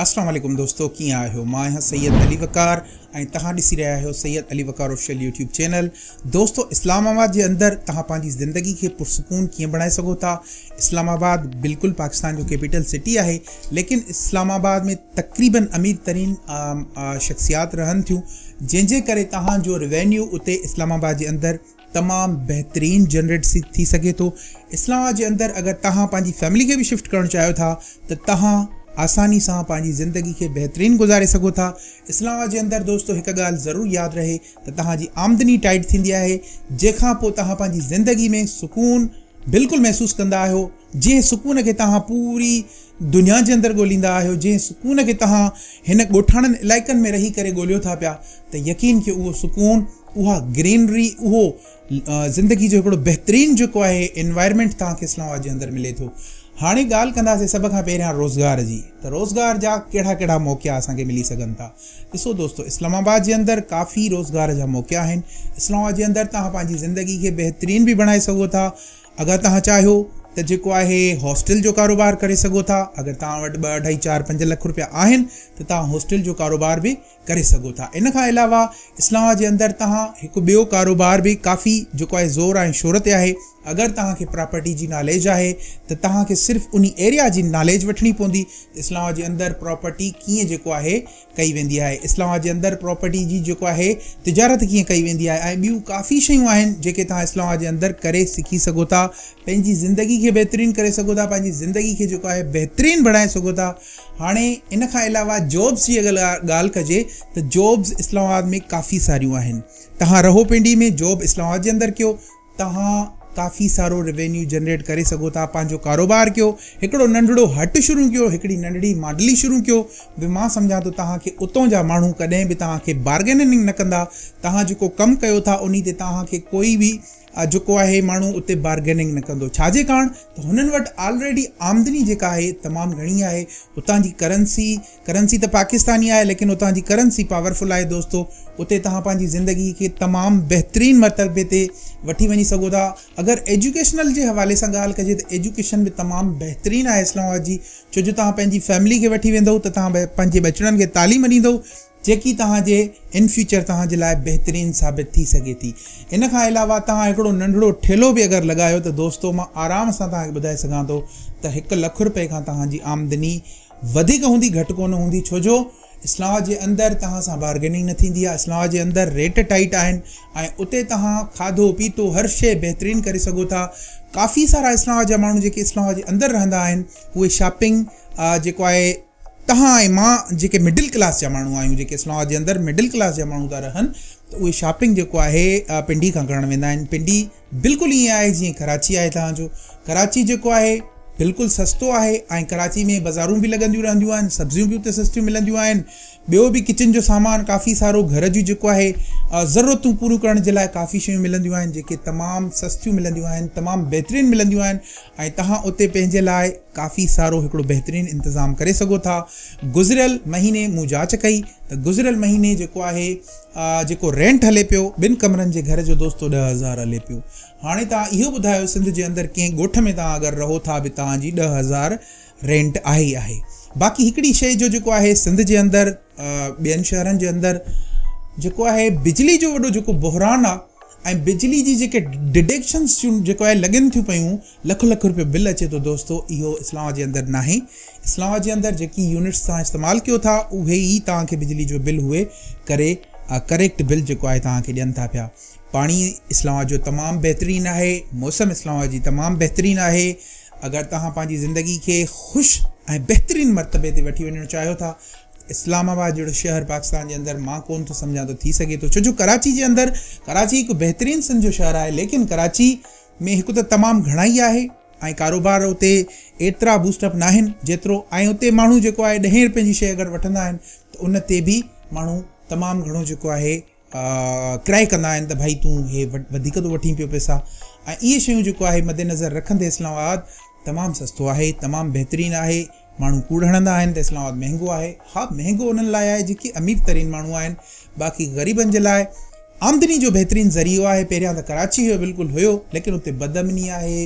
اسلام عليڪم دوستو ڪيئن آهيو مان آهيان سيد علي وقار ۽ تهان ڏسي رهيا آهيو Syed Ali Waqar official YouTube channel دوستو اسلام آباد جي اندر تهان پنهنجي زندگي کي پرسڪون ڪيئن بڻائي سگهو ٿا اسلام آباد بلڪل پاڪستان جو ڪيپيٽل سٽي آهي ليڪن اسلام آباد ۾ تقريبن امير ترين شخصيات رهن ٿيون جنهن جي ڪري تهان جو روينيو اتي اسلام آباد جي اندر تمام بهترين جنريٽ ٿي سگهي ٿو اسلام آباد جي اندر اگر توهان پنهنجي فيملي کي به شفٽ ڪرڻ چاهيو ٿا ته توهان آساني سان پنهنجي زندگي کي بهترين گذاري سگهو ٿا اسلام آباد جي اندر دوستو هڪ ڳالهه ضرور ياد رهي ته توهان جي آمدني ٽائيٽ ٿيندي آهي جنهن کان پوء توهان پنهنجي زندگي ۾ سڪون بلڪل محسوس ڪندا آهيو جنهن سڪون کي توهان پوري دنيا جي اندر ڳوليندا آهيو، جنهن سڪون کي توهان هن ڳوٺاڻن علائقن ۾ رهي ڪري ڳوليو ٿا پيا ته يقين ڪيو اهو سڪون، اها گرينري، اهو زندگي جو هڪڙو بهترين جيڪو آهي انوائرمينٽ توهان کي اسلام آباد جي اندر ملي ٿو. هاڻي ڳالهه ڪنداسين سڀ کان پهريان روزگار جي ته روزگار جا ڪهڙا ڪهڙا موقعا اسان کي ملي سگهن ٿا. ڏسو دوستو اسلام آباد جي اندر ڪافي روزگار جا موقعا آهن. اسلام آباد جي اندر توهان پنهنجي زندگي کي بهترين به بڻائي سگهو ٿا. اگر توهان چاهيو ته جيڪو آهي هاسٽل جو ڪاروبار ڪري سگهو ٿا، اگر توهان وٽ ٻه اڍائي چار پنج لک روپيا آهن ته توهان هاسٽل جو ڪاروبار به ڪري سگهو ٿا. ان کان علاوه اسلام آباد جي اندر توهان هڪ ٻيو ڪاروبار به ڪافي جيڪو آهي زور ۽ شهرت تي آهي، اگر توهان کي پراپرٽي جي ناليج آهي ته توهان کي صرف انهي ايريا جي ناليج وٺڻي پوندي ته اسلام آباد جي اندر پراپرٽي ڪيئن جيڪو آهي ڪئي ويندي آهي اسلام آباد جي اندر پراپرٽي جي جيڪو آهي تجارت ڪيئن ڪئي ويندي آهي ۽ ٻيون ڪافي شيون آهن جيڪي توهان اسلام آباد جي اندر ڪري سکي سگهو ٿا پنهنجي زندگي کي بهترين ڪري سگهو ٿا پنهنجي زندگي کي جيڪو آهي بهترين بڻائي سگهو ٿا هاڻي ان کان علاوه جابس جي اگر ڳالهه ڪجي ته جابس اسلام آباد ۾ ڪافي ساريون آهن توهان رهو پنڊي ۾ جاب اسلام آباد جي اندر ڪيو توهان ڪافي سارو روينيو جنريٽ ڪري سگهو ٿا پنهنجو ڪاروبار ڪيو هڪڙو ننڍڙو هٽ شروع ڪيو هڪڙي ننڍڙي ماڊلي شروع ڪيو به مان سمجهان ٿو توهان کي اتون جا ماڻهو ڪڏهن به توهان کي بارگيننگ نه ڪندا توهان جيڪو ڪم ڪيو ٿا انهي تي توهان کي ڪوئي به جيڪو آهي ماڻهو اتي بارگيننگ نه ڪندو ڇاجي ڪاڻ ته هنن وٽ آلريڊي آمدني جيڪا آهي تمام گهڻي آهي اتان جي ڪرنسي ڪرنسي ته پاڪستان ئي آهي ليڪن اتان جي ڪرنسي پاورفل آهي دوستو اتي توهان پنهنجي زندگي کي تمام بهترين مرتبي تي وٺي وڃي سگهو ٿا اگر ايجوڪيشنل جي حوالي سان ڳالهه ڪجي ته ايجوڪيشن به تمام بهترين آهي اسلام آباد جي ڇو جو توهان پنهنجي فيملي کي وٺي ويندو ته توهان پنهنجي ٻچڙن کي تعليم ڏيندو جيڪي توهان جي ان فيوچر توهان جي لاء بهترين ثابت ٿي سگهي ٿي ان کان علاوه توهان هڪڙو ننڍڙو ٺيلو به اگر لڳايو ته دوستو مان آرام سان توهان کي ٻڌائي سگهان ٿو ته هڪ لک روپئي کان توهان جي آمدني وڌيڪ هوندي گهٽ ڪونه هوندي ڇو جو اسلام آباد جي اندر توهان سان بارگيننگ نه ٿيندي آهي اسلام آباد جي اندر ريٽ ٽائيٽ آهن ۽ اتي توهان کاڌو پيتو هر شي بهترين ڪري سگهو ٿا ڪافي سارا اسلام آباد جا ماڻهو جيڪي اسلام آباد جي اندر رهندا آهن اهي شاپنگ جيڪو آهي توهان ۽ مان جيڪي مڊل ڪلاس جا ماڻهو آهيون جيڪي اسلام آباد جي اندر مڊل ڪلاس جا ماڻهو ٿا رهن ته اهي شاپنگ جيڪو آهي پنڊي کان ڪرڻ ويندا آهن پنڊي بلڪل ائين آهي جيئن ڪراچي آهي توهان جو ڪراچي جيڪو آهي بلڪل سستو آهي ۽ ڪراچي ۾ بزارون به لڳنديون رهنديون آهن سبزيون به اتي سستيون ملنديون آهن ٻيو به ڪچن جو سامان ڪافي سارو گهر جون جيڪو آهي ضرورتون پوريون ڪرڻ جي لاء ڪافي شيون ملنديون آهن جيڪي تمام سستيون ملنديون آهن تمام بهترين ملنديون آهن ۽ توهان اتي پنهنجي لاء ڪافي سارو هڪڙو بهترين انتظام ڪري سگهو ٿا گذريل مهيني مون جاچ ڪئي ته گذريل مهيني جيڪو آهي آء جيڪو رينٽ هلي پيو، ٻن ڪمرن جي گهر جو دوستو ڏهه هزار هلي پيو. هاڻي توهان اهو ٻڌايو سنڌ جي اندر ڪنهن ڳوٺ ۾ توهان اگر رهو ٿا به توهان جي ڏهه هزار رينٽ آهي ئي آهي. باقي هڪڙي شئي جو جيڪو آهي سنڌ جي اندر ٻين شهرن جي اندر جيڪو آهي بجلي جو وڏو جيڪو بحران آ، ۽ بجلي جي جيڪي ڊڊيڪشنس جون جيڪو آهي لڳن ٿيون پيون لک لک روپيو بل اچي ٿو دوستو اهو اسلام آباد جي اندر ناهي اسلام آباد جي اندر جيڪي يونٽس توهان استعمال ڪيو ٿا اهي ئي توهان کي بجلي جو بل هئي ڪري ڪريڪٽ بل جيڪو آهي توهان کي ڏين ٿا پيا پاڻي اسلام آباد جو تمام بهترين آهي موسم اسلام آباد جي تمام بهترين آهي اگر توهان پنهنجي زندگي کي خوش ۽ بهترين مرتبي تي وٺي وڃڻ چاهيو ٿا اسلام آباد جهڙو شهر پاڪستان جي اندر مان ڪون ٿو سمجهان ته ٿي سگهي ٿو ڇو جو ڪراچي جي اندر ڪراچي هڪ بهترين سنڌ جو شهر آهي ليڪن ڪراچي ۾ هڪ ته تمام گهڻائي آهي ۽ ڪاروبار اتي ايترا بوسٽ اپ ناهن جيترو ۽ اتي ماڻهو جيڪو آهي ڏهين رپين جي شيء اگر وٺندا آهن ته ان تي به ماڻهو تمام گهڻو جيڪو آهي ڪرائي ڪندا آهن ته ڀائي تون هي وڌيڪ ٿو وٺين پيو پئسا ۽ اهي شيون جيڪو آهي مد نظر رکندي اسلام آباد تمام سستو آهي تمام بهترين آهي ماڻهو ڪوڙ هڻندا آهن ته اسلام آباد مهنگو آهي ها مهنگو انهن لاء آهي جيڪي امير ترين ماڻهو آهن باقي غريبن جي لاء آمدني جو بهترين ذريعو آهي پهريان ته ڪراچي هيو بلڪل هيو ليڪن اتي بد امني آهي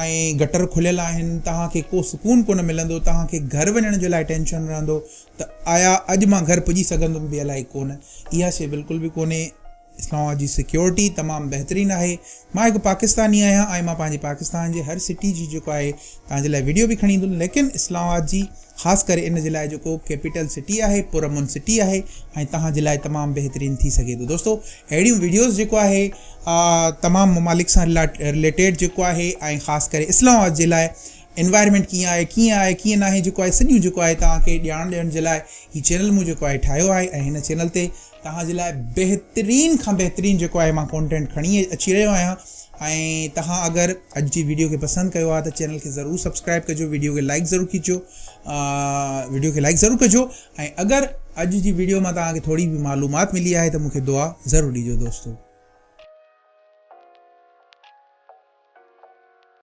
۽ گٽر کليل آهن توهان کي ڪو سڪون ڪونه ملندو توهان کي گهر وڃڻ جي لاء ٽينشن رهندو ته آيا اڄ مان گهر پڄي سگهندم به الائي ڪونه. اها شيء بلڪل به ڪونهي. اسلام آباد جي سيڪيورٽي تمام بهترين آهي. مان هڪ پاڪستاني آهيان ۽ مان پنهنجي پاڪستان جي هر سٽي جي جيڪو آهي توهان جي لاء وڊيو به کڻي ايندم ليڪن اسلام آباد جي خاص ڪري ان جي لاء جيڪو ڪيپيٽل سٽي آهي پر امن سٽي آهي ۽ توهان جي لاء تمام بهترين ٿي سگهي ٿو دوستو اهڙيون وڊيوز جيڪو آهي تمام ممالڪ سان رليٽيڊ جيڪو آهي ۽ خاص ڪري اسلام آباد جي لاء انوائرمينٽ ڪيئن آهي ڪيئن آهي ڪيئن ناهي جيڪو آهي سڄو جيڪو آهي توهان کي ڄاڻ ڏيڻ جي لاء هي چينل مون جيڪو آهي ٺاهيو آهي ۽ هن چينل تي توهان جي لاء بهترين کان بهترين جيڪو آهي مان ڪونٽينٽ کڻي اچي رهيو آهيان ۽ توهان اگر اڄ جي ويڊيو کي پسند ڪيو آهي ته چينل کي ضرور سبسڪرائب ڪجو ويڊيو کي لائڪ ضرور کيچو ويڊيو کي لائڪ ضرور ڪجو ۽ اگر اڄ جي ويڊيو مان توهان کي ٿوري به معلومات ملي آهي ته مونکي دعا ضرور ڏيجو دوستو